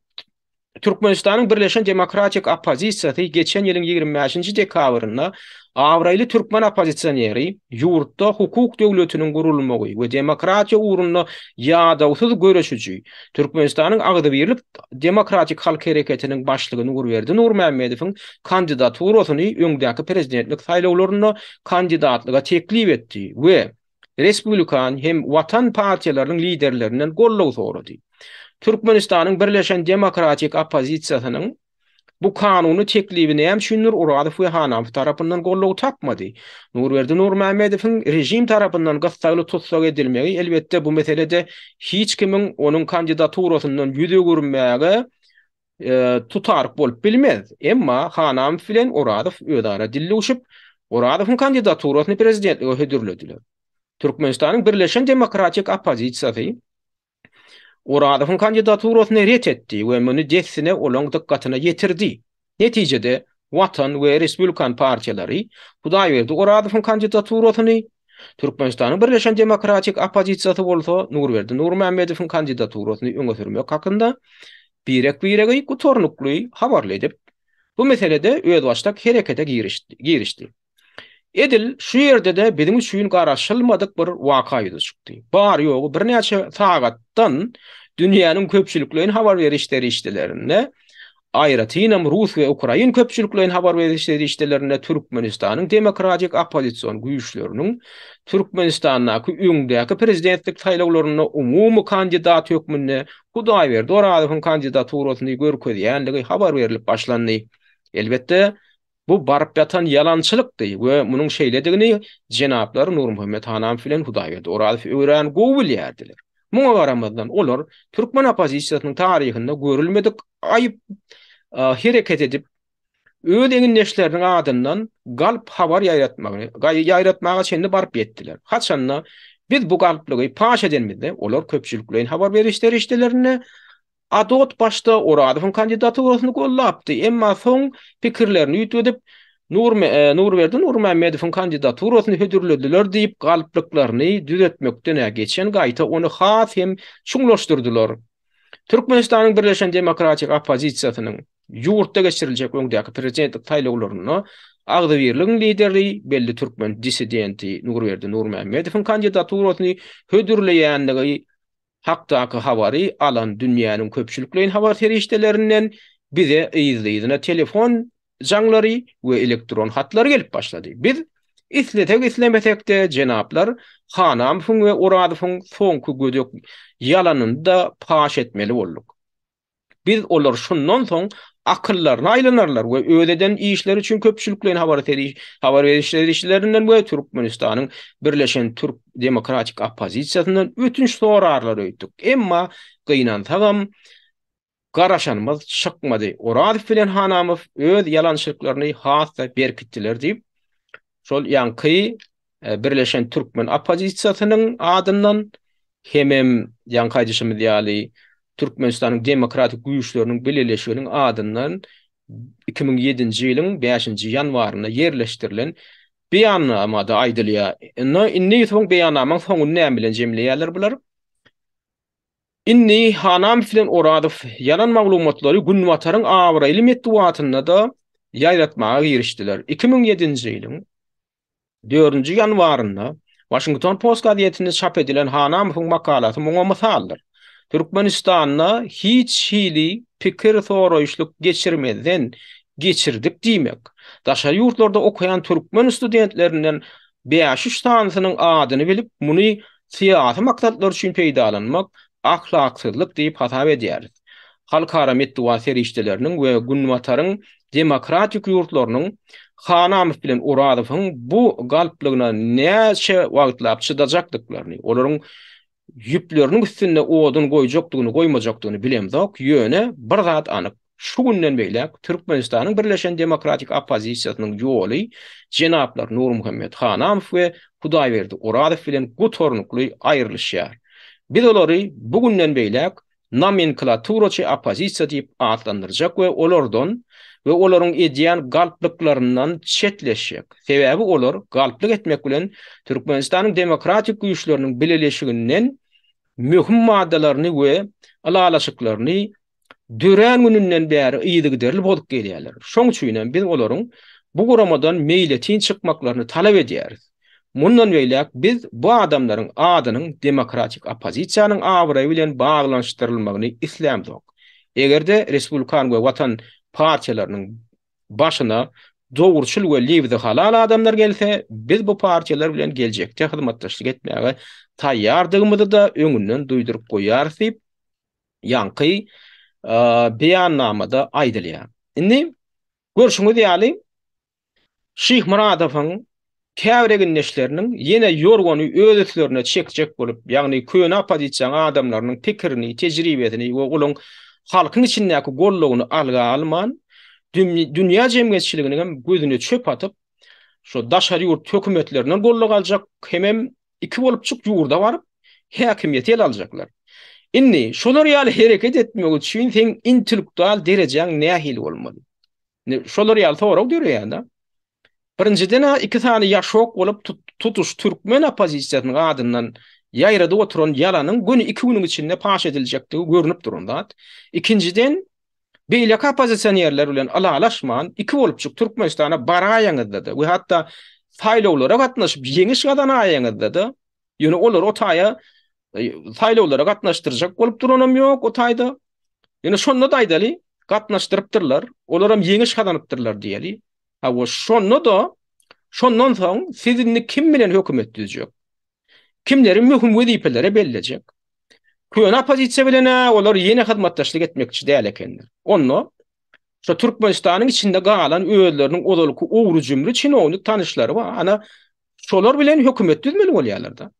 Türkmenistanyň Birleşen demokratik oppozisiýasy geçen ýylyň 25-nji dekabrynda abraýly türkmen oppozisioneri ýurtda hukuk döwletiniň gurulmagy we demokratiýa ugrunda ýadawsyz göreşiji Türkmenistanyň Agzybirlik demokratik halk hereketiniň başlygy Nurberdi Nurmämmedowyň kandidaturasyny öňdäki prezidentlik saýlawlarynda kandidatlyga teklip etdi we Respublikan hem Watan partiýalarynyň liderlerinden goldaw sorady. Türkmenistanyň Birleşen demokratik oppozisiýasynyň Bu kanuny teklibi näme üçin Nur Orazow we Hanafow tarapyndan goldaw tapmady? Nurberdi Nurmämmedowyň režim tarapyndan gyssagly tussag edilmegi elbetde bu meselede hiç kimiň onuň kandidaturasyndan ýüz öwürmäge tutaryk bolup bilmez. Emma Hanafow bilen Orazow özara dilluşyp, Orazowyň kandidaturasyny prezidentlige hödürlediler. Türkmenistanyň birleşen demokratik oppozisiýasy Orazowyň kandidaturasyny ret etdi we muny dessine olaň dykgatyna ýetirdi. Netijede, Watan we Respublikan partiýalary Hudaýberdi Orazowyň kandidaturasyny, Türkmenistanyň Birleşen demokratik oppozisiýasy bolsa Nurberdi Nurmämmedowyň kandidaturasyny öňe sürmek hakynda birek-biregi gutarnykly habarly edip, bu meselede özbaşdak herekete girişdi. Edil şu ýerde-de biziň üçin garaşylmadyk bir waka ýüze çykdy. Bary-ýogy birnäçe sagatdan dünýäniň köpçülikleýin habar beriş serişdelerinde, aýratynam rus we ukrain köpçülikleýin habar beriş serişdelerinde Türkmenistanyň demokratik oppozision güýçleriniň Türkmenistandaky öňdäki prezidentlik saýlawlarynda umumy kandidat hökmünde Hudaýberdi Orazowyň kandidaturasyny görkezýändigi habar berlip başlandy. Elbetde, Bu baryp ýatan ýalançylykdy we munuň şeýledigini jenaplary Nurmuhammet hanam bilen Hudaýberdi Orazow örän gowy bilýärdiler. Muňa garamazdan, olar türkmen oppozisiýasynyň taryhynda görülmedik aýyp hereket edip, öz egindeşleriniň adyndan galp habar ýaýratmagyny, ýaýratmaga çenli baryp ýetdiler. Haçan-da, biz bu galplygy paş edenimizde, olar köpçülikleýin habar beriş serişdelerinde Adot başda Orazowyň kandidaturasyny gollapdy, emma soň pikirlerini üýtgedip, Nurberdi Nurmämmedowyň kandidaturasyny hödürlediler diýip, galplyklaryny düzetmekden-ä geçen, gaýta ony has hem çuňlaşdyrdylar. Türkmenistanyň Birleşen demokratik oppozisiýasynyň ýurtda geçiriljek öňdäki prezidentlik saýlawlarynda agzybirligiň lideri, belli türkmen dissidenti Nurberdi Nurmämmedowyň kandidaturasyny hödürleýändigi hakdaky habary alan dünýäniň köpçülikleýin habar serişdelerinden bize yzly-yzyna telefon jaňlary we elektron hatlar gelip başlady. Biz, islesek-islemesek-de, jenaplar Hanamowyň we Orazowyň soňky gödek ýalanyny-da paş etmeli bolduk. Biz olar şundan soň akyllaryna aýlanarlar we öz eden işleri üçin köpçülikleýin habar serişdelerinden we Türkmenistanyň Birleşen Türk Demokratik Oppozisiýasyndan ötünç sorarlar öýtdük. Emma gynansagam, garaşanymyz çykmady. Orazow bilen Hanamow öz ýalançylyklaryny has-da berkitdiler diýip, şol ýaňky e, Birleşen Türkmen oppozisiýasynyň adyndan hemem ýaňky aýdyşymyz ýaly Türkmenistanyň demokratik güýçleriniň bileleşiginiň adyndan 2007-nji ýylyň 5-nji ýanwarynda ýerleşdirilen beýannamada aýdylýar. Indi indi Ýusubyň beýannamyň soňuny näme bilen jemleýärler bular? Indi Hanamow bilen Orazow ýalan maglumatlary Günbataryň abraýly metbugatynda-da ýaýratmaga girişdiler. 2007-nji ýylyň dördünji ýanwarynda Washington Post gazetinde çap edilen Hanamowyň makalasy muňa mysaldyr. Türkmenistanda hiç hili pikir soraýyşlyk geçirmezden geçirdik diýmek, daşary ýurtlarda okaýan türkmen studentlerinden bäş-üç sanysynyň adyny bilip, muny syýasy maksatlar üçin peýdalanmak, ahlaksyzlyk diýip hasap edýäris. Halkara metbugat serişdeleriniň we Günbataryň demokratik ýurtlarynyň Hanamow bilen Orazowyň bu galplygyna näçe wagtlap çydajakdyklaryny, olaryň ýüpleriniň üstünde odun goýjakdygyny-goýmajakdygyny bilemzok, ýöne bir zat anyk, Şu günden beýläk Türkmenistanyň Birleşen demokratik oppozisiýasynyň ýoly jenaplar Nurmuhammet Hanamow we Hudaýberdi Orazow bilen gutarnykly aýrylyşýar. Biz olary bu günden beýläk nomenklaturaçy oppozisiýa diýip atlandyrjak we olardan we olaryň edýän galplyklaryndan çetleşjek. Sebäbi olar galplyk etmek bilen Türkmenistanyň demokratik güýçleriniň bileleşiginden möhüm maddalaryny we ylalaşyklaryny dörän gününden bäri yzygiderli bozup gelýärler. Şoň üçin hem biz olaryň bu guramadan meýletin çykmaklaryny talap edýäris. Mundan beýläk biz bu adamlaryň adynyň demokratik oppozisiýanyň abraýy bilen baglanyşdyrylmagyny islämzok. Eger-de Respublikan we Watan partiýalarynyň başyna dogruçyl we lebzi halal adamlar gelse, biz bu partiýalar bilen geljekde hyzmatdaşlyk etmäge taýýardygymyzy-da öňünden duýduryp goýýarys diýip, ýaňky beýannamada aýdylýar. Indi görşüňiz ýaly, Şyh Myradowyň käbir egindeşleriniň ýene ýorgany öz üstlerine çekjek bolup, ýagny köne oppozisiýaň adamlarynyň pikirini, tejribesini we olaň halkyň içindäki goldawyny alga alman, dünýä jemgyýetçiliginiň hem gözüne çöp atyp, şo daşary ýurt hökümetlerinden goldaw aljak hemem iki bolup çyk ýurda baryp, häkimiýeti ele aljaklar. Indi şolar ýaly hereket etmek üçin seň intellektual derejäň nähili bolmaly? Indi şolar ýaly sorag döreýär-de. Birinjiden ha iki sany ýaşok bolup tutuş türkmen oppozisiýasynyň adyndan ýaýradyp oturan ýalanyň göni iki günüň içinde paş ediljekdigi görnüp duran zat. Ikinjiden Beýleki oppozisionerler bilen ylalaşman, iki bolupjyk Türkmenistana baraýaňyzda-da we hatda saýlawlara gatnaşyp ýeňiş gazanaýaňyzda-da, ýöne olary o taýa e, saýlawlara gatnaşdyrjak bolup duranam ýok o taýda. Ýöne şonda-da aýdaly, gatnaşdyrypdyrlar, olaram ýeňiş gazanypdyrlar diýeli. Ha we şonda-da şondan soň siz indi kim bilen hökümet düzjek? kimleri möhüm wezipelere bellejek? Köne oppozisiýa bilen-ä olar ýene hyzmatdaşlyk etmekçi däl ekenler. Onda, şo Türkmenistanyň içinde galan özleriniň ozalky owry-jümri çinownik tanyşlary bar. Ana, şolar bilen hökümet düzmeli bolýarlar-da.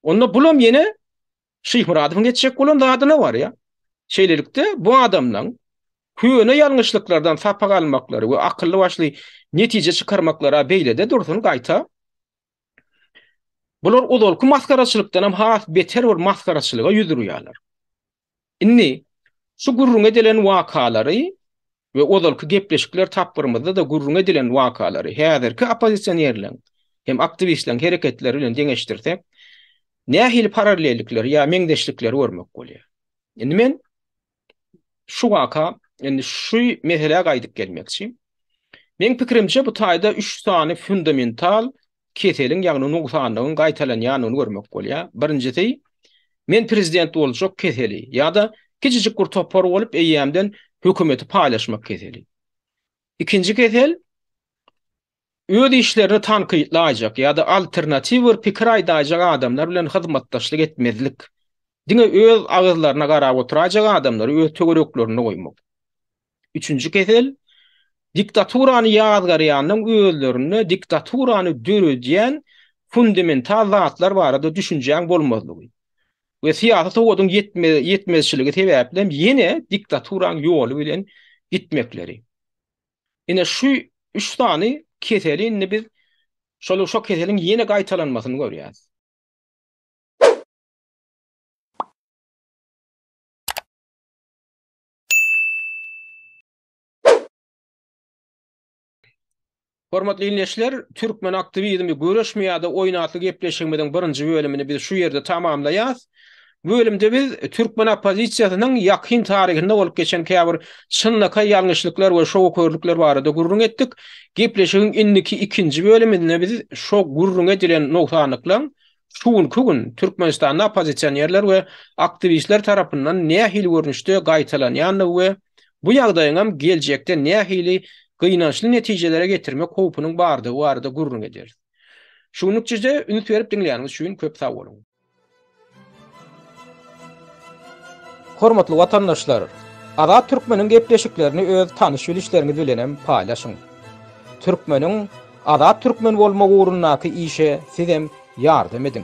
Onda bulam ýene Şyhmyradowyň etjek bolan zadyna barýar. Şeýlelikde, bu adamlaň köne ýalňyşlyklardan sapak almaklary we akylly-başly netije çykarmaklary-ä beýlede dursun, gaýta Bular ozalky masgaraçylykdanam has beter bir masgaraçylyga ýüz urýarlar. Indi şu gürrüň edilen wakalary we ozalky gepleşikler tapgyrymyzda-da gürrüň edilen wakalary häzirki oppozisionerleň hem aktiwistleriň hereketleri bilen deňeşdirsek, nähili parallellikleri ýa meňzeşlikleri görmek bolýar. Indi men şu waka, indi şu meselä gaýdyp gelmekçi. Meň pikirimçe bu taýda üç sany fundamental keseliň, ýagny nogsanlygyň gaýtalanýandygyny görmek bolýar. Birinjisi, men prezident boljak keseli, ýa-da kiçijik bir topar bolup eýýämden hökümeti paýlaşmak keseli. Ikinji kesel, öz işlerini tankytlaýjak ýa-da alternatiw bir pikir aýdaýjak adamlar bilen hyzmatdaşlyk etmezlik, diňe öz agyzlaryna garap oturajak adamlary öz töwereklerinde goýmak. Üçünji kesel, diktaturany ýazgarýanlaň özlerinde diktaturany döredýän fundamental zatlar barada düşünjäň bolmazlygy we syýasy sowadyň ýetmezçiligi sebäplem ýene diktaturaň ýoly bilen gitmekleri. Ine şu üç sany keseli indi biz şol şo keseliň ýene gaýtalanmasyny görýäs. Hormatly ildeşler, türkmen aktiwizmi göreşmi ýa-da oýun atly gepleşigimiziň birinji bölümini biz şu ýerde tamamlaýas. Bölümde biz türkmen oppozisiýasynyň ýakyn taryhynda bolup geçen käbir çynlakaý ýalňyşlyklar we şowakörlükler barada gürrüň etdik. Gepleşigiň indiki ikinji bölüminde biz şo gürrüň edilen nogsanlyklaň şu günki gün Türkmenistanda oppozisionerler we aktiwistler tarapyndan nähili görnüşde gaýtalanýandygy we bu ýagdaýyňam geljekde nähili gynançly netijelere getirmek howpunyň bardygy barada gürrüň ederis. Şu günlükçe üns berip diňläniňiz üçin köp sag boluň. Hormatly watandaşlar! Azat Türkmeniň gepleşiklerini öz tanyş-bilişleriňiz bilenem paýlaşyň. Türkmeniň Azat Türkmen bolmagy ugrundaky işe sizem ýardam ediň!